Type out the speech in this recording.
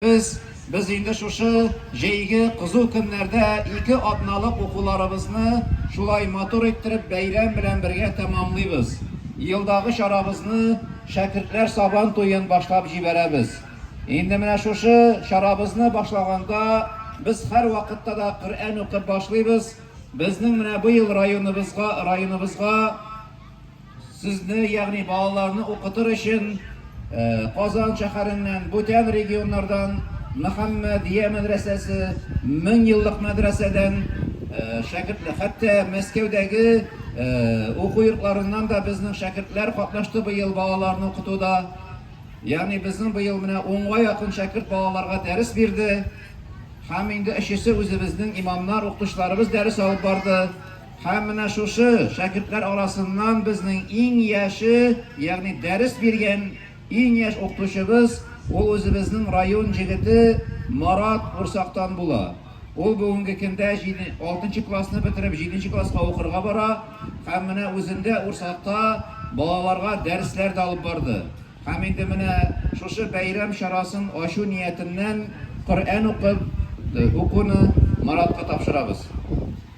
Без, без инде шушы җәйге кызу көннәрдә ике атналык укуларыбызны шулай матур иттереп бәйрәм белән бергә тәмамлыйбыз. Елдагы чарабызны, Шәкертләр сабан туен башлап җибәрәбез. Инде менә шушы чарабызны башлаганда без һәрвакытта да Коръән укып башлыйбыз, безнең менә быел районыбызга, районыбызга Сезне, ягъни балаларны укытыр өчен Казан шәһәреннән, бүтән регионнардан Мөхәммәдия мәдрәсәсе, Мең еллык мәдрәсәдән шәкертләр, хәтта Мәскәүдәге уку йортларыннан да безнең шәкертләр катнашты быел балаларны укытуда. Ягъни безнең быел менә унга якын шәкерт балаларга дәрес бирде. Һәм инде өчесе үзебезнең имамнар, укытучыларыбыз дәрес алып барды. Һәм менә шушы шәкертләр арасыннан безнең иң яше, ягъни дәрес биргән иң яшь укытучыбыз, ул үзебезнең район җегете Марат Урсактан була. Ул бүгенге көндә җиде, алтынчы классны бетереп, җиденче класска укырга бара. Һәм менә үзендә Урсакта балаларга дәресләр дә алып барды. Һәм инде менә шушы бәйрәм чарасын ачу ниятеннән Коръән укып, укуны Маратка тапшырабыз.